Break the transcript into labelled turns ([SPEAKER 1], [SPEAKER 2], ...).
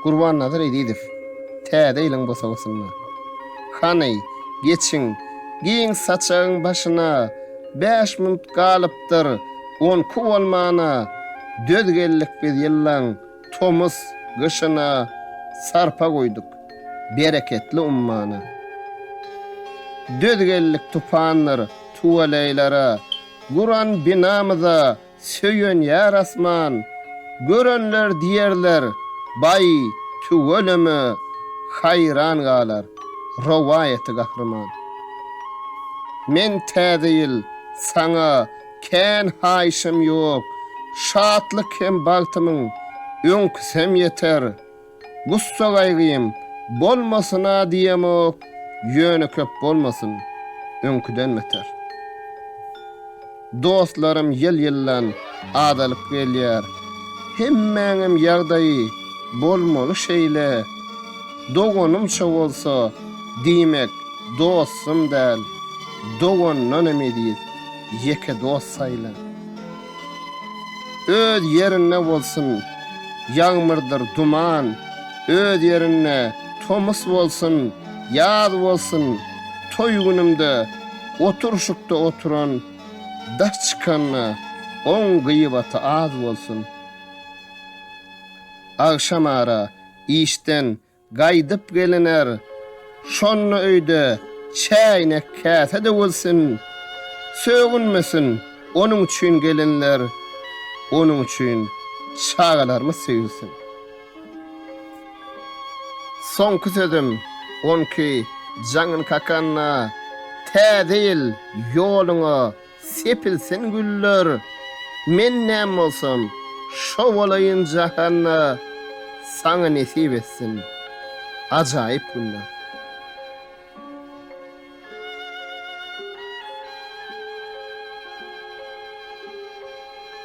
[SPEAKER 1] Gurbannazar Ezizow täze ýylyň bosagasynda. Hany, geçiň, giň saçagyň başyna, bäş minut galypdyr, onki bolmana, döz geldik biz ýyllaň tomus, gyşyna, sarpa guýduk, bereketli ummana. Döz geldik tupandyr, tuweleýlere, Guran binamyza söýenýär asman, Görenler diýerler, Baý, tüweleme, haýran galar, Rowaýaty gahryman. Men Täze ýyl saňa kän haýyşym ýok, Şatlyk hem bagtymyň öňküsem ýeter. Gussa-gaýgym bolmasyn-a diýemok, ýöne köp bolmasyn, öňküden beter. Dostlarym ýyl-ýyldan azalyp gelýär. Hemmäňem ýagdaýy bolmaly şeýle. Doganymça bolsa, diýmek, dostum däl, dogandan hem eziz, ýeke dost saýla. Öz ýerinde bolsun, ýagmyrdyr duman, Öz ýerinde tomus bolsun, ýaz bolsun, Toý günümde oturşykda oturan, Daş çykanda oň gyýbaty az bolsun. Agşamara işden Gaýdyp geliner, şonda öýde çäýnek-käse-de bolsun, sögünmesin, onuň üçin gelinler, onuň üçin çagalarymyz söýülsin. Soňky sözüm, onki, Jaňyn kakanna, Täze ýyl, ýoluňa, Sepilsin güller, men näm bolsam, şo bolaýyn Jahanda saňa nesip etsin ajaýyp günler.